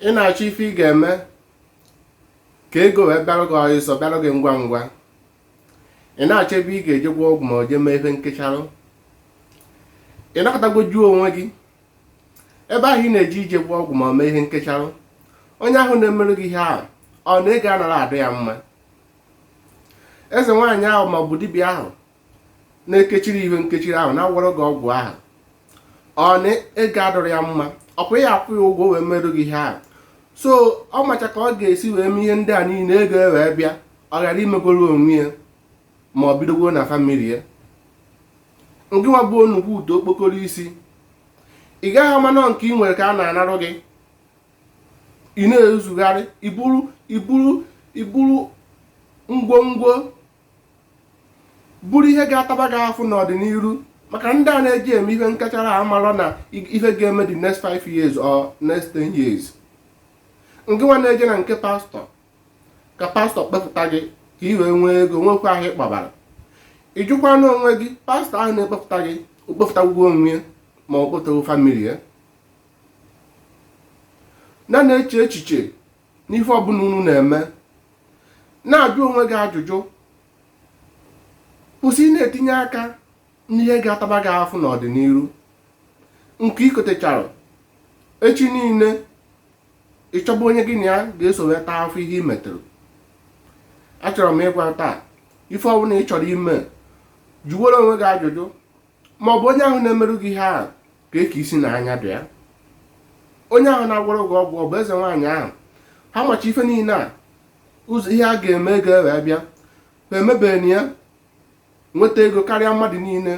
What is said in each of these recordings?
ị na-achọ ife ị ga-eme ka ego wee bịarụ gị ọsịsọ bịarụ gị ngwa ngwa ị na-achọ ebe ị ga-eje gwọ ọgwụ ma o jee mee ife nkecharụ ị nọkatago jụọ onwe gị ebe ahụ ị na-eje ije gwọ ọgwụ ma o mee ihe nkecharụ onye ahụ na-emerụ gị ihe ahụ ọ na ego anaghị adị ya mma eze nwaanyị ahụ ma ọ bụ dibịa ahụ na-ekechiri ihe nkechiri ahụ na-agwọrọ gị ọgwụ ahụ ọ na ego adịrọ ya mma ọkwa ị ya-akwụ ya ụgwọ wee merụ gị ihe ahụ so ọ macha ka ọ ga-esi wee mee ihe ndị a niile ego e wee bịa ọ ghara imegoro onwe ya ma ọ bidogoro na famili ya ngị nwa bụ onukwu udo okpokoro isi ị gaghị ama na ọ nke ị nwere ka a na-anarụ gị ị na-ezugharị iburu ngwongwo bụrụ ihe ga-ataba gị afụ n'ọdịnihu makana ndị a na-eji eme ihe nkechara amalọ na ihe ga-eme the next 5 years or next 10 years ngị nwa na-eje na nke pastọ ka pastọ kpepụta gị ka ị wee nwee ego nwekwa ahụ ịkpabara ị jụkwanụ onwe gị pastọ ahụ na-ekpepụta gị o kpepụtakwugo onwe ya ma o kpepụtago famili ya na na-eche echiche n'ife ọbụla unu na-eme na-ajụ onwe gị ajụjụ kwụsị ị na-etinye aka n'ihe ga-ataba gị afụ n'ọdịnihu nke i kotechara echi niile ị chọba onye gị na ya ga-eso wee taa afụ ihe i meterụ achọrọ m ịgwa taa ife ọbụla ị chọrọ ime jụwere onwe gị ajụjụ ma ọ bụ onye ahụ na-emerụ gị ihe ahụ ka eke isi na anya dị ya onye ahụ na-agwọrọ gị ọgwụ ọ bụ eze nwaanyị ahụ ha macha ife niile a ụzọ ihe a ga-eme ego ewee bịa ha emebeghị ya nweta ego karịa mmadụ niile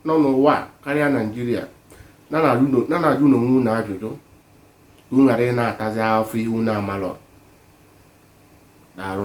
nọ n'ụwa karịa naijiria na na-ajụnụ onwe unu ajụjụ ka unu ghara ị na-atazi afụ ihe unu amalọ daalụ